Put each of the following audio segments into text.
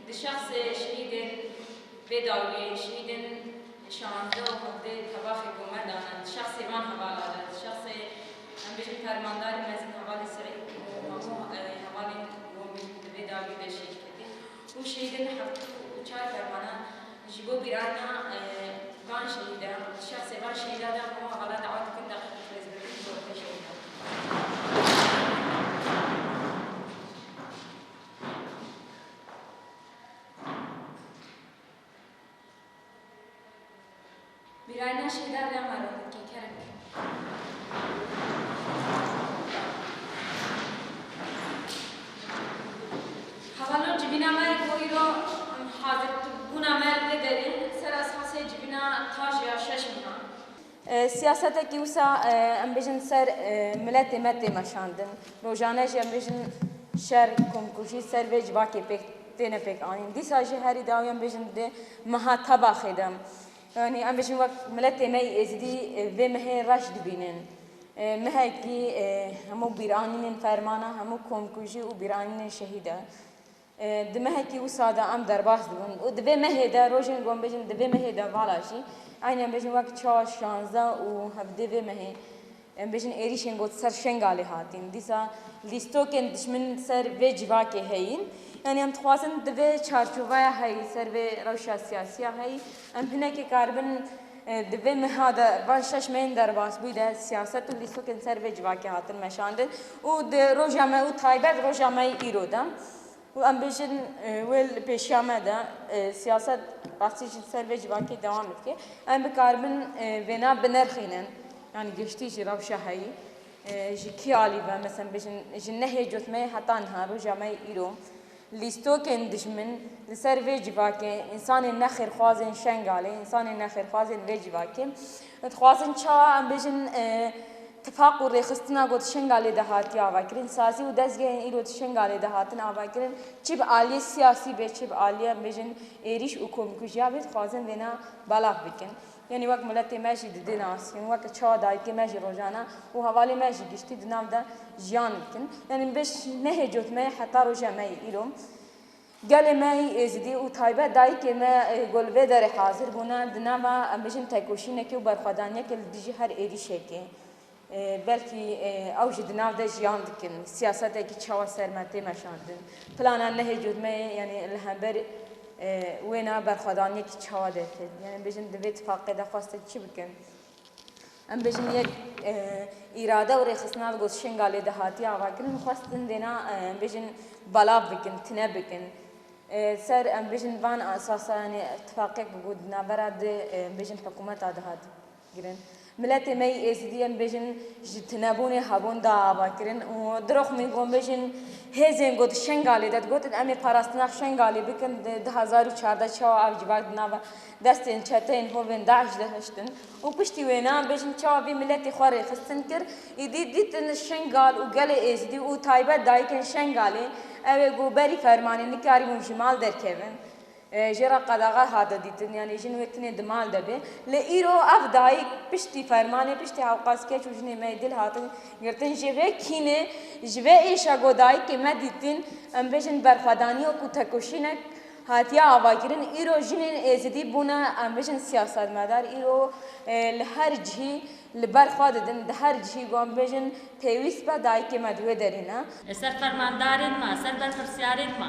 Di şexsê şehîdê vê dawiyê şehîdên şazdeh û hevdeh tevaxê komar dane di şexsê van hevala de, di şexsê em bêjin fermandarê mezin hevalê Seîd û hemû hevalên komî di vê dawiyê de şehîd ketîn û şehîdên di heftû û çar fermanan ji bo bîranîna van şehîdan di şexsê van şehîdan de hemû hevalan dawa dikin deqîqî xêzbirkirin ji bo xwe jê bidin. Mirayna şêda vê ma re dike keng. Hevalo civîna me bo îro hazir bûna me li vê derê ser esasê civîna tajiya şeş mîna. Siyasetekî wisa em bêjin li ser miletê me tê meşandin. Rojane jî em bêjin şer, komkujî ser vê civakê pêk têne pêk anîn. Dîsa jî herî dawî em bêjin di meha tebaxê de yanî em bêjin wek miletê me yî êzidî vê mehê reş dibînin. Mehekî hemû bîranînên fermana hemû komkujî û bîranînên şehîd e. Di mehekî wisa de em derbas dibin û di vê mehê de rojên ku em bêjin di vê mehê de vala jî eynî em bêjin wek çar, şanze û hevdê vê mehê em bêjin êrîşên got ser Şengalê hatîn. Dîsa lîstokên dişmin ser vê civakê heyîn. Yanî em dixwazin di vê çarçoveya heyî, ser vê rewşa siyasî ya heyî em hinekî karibin, Di vê meha de van şeş meyên derbasbûyî de siyaset û lîstikên ser vê civakê hatin meşandin û di roja me û taybet roja me yê îro de û em bêjin wê li pêşiya me de siyaset rastî jî li ser vê civakê dewam dike. Em bikaribin vêna binirxînin yanî giştî jî rewşa heyî ji kî alî ve, meselem bêjin ji nehê cot me yê heta niha roja me yê îro. Lîstokên dijmin li ser vê civakê însanên nexêrxwazên Şengalê, însanên nexêrxwazên vê civakê dixwazin çawa em bêjin tifaq û rêxistina ku di Şengalê de hatiye avakirin, sazî û dezgehên îro di Şengalê de hatin avakirin çi bi aliyê siyasî be çi bi aliyê em bêjin êrîş û komkujiya be dixwazin vêna belav bikin. Yanî wek miletê me jî didê nas û wek çawa dayikê me jî rojane û hevalê me jî giştî di nav de jiyan dikin. Yanî min bêj nehê cot me yê heta roja me yê îro. Gelê me yê Êzidî û taybet dayikê me ku li vê derê hazir bûne di nava em bêjin tekoşînekê û berxwedaniyekê li dijî her êrîşekê Belkî ew jî di nav de jiyan dikin. Siyasetekî çawa ser me tê meşandin? Plana nehê cotmeyê yanî li hember wêna berxwedaniyekî çawa derket? Yanî bijin di vê tifaqê de xwestin çi bikin? Em bijin yek îrade û rêxistina li got Şingalê de hatiye avakirin, xwestin dêna em bijin belav bikin, tine bikin. Ser em bijin van esasa yanî tifaqek bû di navbera di em bijin hikûmeta de hat. Kirin. Miletê me yî Êzidî em bêjin ji tunebûnê hebûn da ava kirin û dirok min got bêjin hêzên ku di Şengalê de digotin em ê parastina Şengalê bikin di du hezar û çardeh çawa ev civak di nava destên çeteyên hovên DAIŞ de hiştin û piştî wê na bêjin çawa vî miletê xwe rêxistin kir îdî dîtin Şengal û gelê Êzidî û taybet dayikên Şengalê ew ê ku berî fermanê nikarîbûn ji mal derkevin Jê re qedaxwe hate dîtin, yanî jin wê tenê di mal de bê. Lê îro ev dayîk piştî fermanê, piştî hewqas keç û jinê me yê dil hatin girtin. Ji vê kînê, ji vê êşa ku dayîkê me dîtin, em bêjin berxwedanîya ku tekoşînek hatiye avakirin, îro jinên êzidî bûne em bêjin siyasetmedar. Îro li her cihî li ber xwe didin, di her cihî ku em bêjin pêwîst be dayîkê me di wê derê ne. Li ser fermandarên me, li ser berpirsyarên me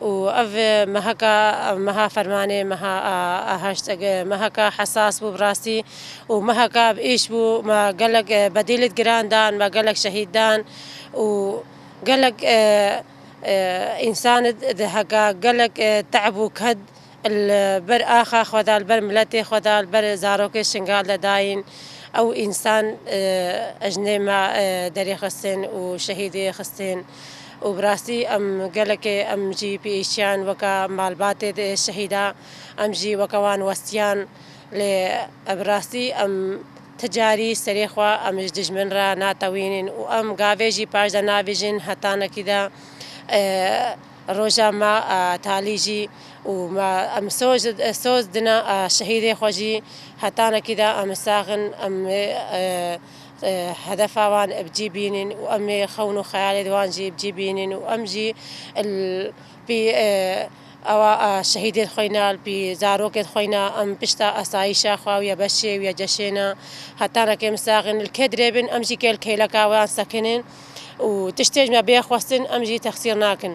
û ev meheka meha fermanê, meha aheşt, meheka hesas bû bi rastî û meheka bi êş bû. Me gelek bedêlê giran dan, me gelek şehîd dan û gelek însan di heka gelek te'b û ked Li ber axa xwe de, li ber miletê xwe de, li ber zarokê şingal de dayîn. Ew însan jinê me derê xistin û şehîdê xistin û bi rastî em gelekê em jî pêşiyan weke malbatê şehîda em jî weke wan westiyan. Lê bi rastî em ti carî serê xwe em ji dijmin re natewînin û em gavê jî paşde nabijin hetanekî de. Roja me talî jî û me em soz dina şehîdê xwe jî hetanekî de em sax in, em ê hedefa wan bi cî bînîn û em ê xewn û xeyalê di wan jî bi cî bînîn û em jî li pî ewa şehîdên xwe ne li pî zarokên xwe ne em pişta asayîşa xwe û ya beşê û ya ceşê ne hetanekê em sax in li kê dirêbin em jî kê li kêleka wan sekinîn. û tiştê ji me bê xwestin em jî texsîr nakin.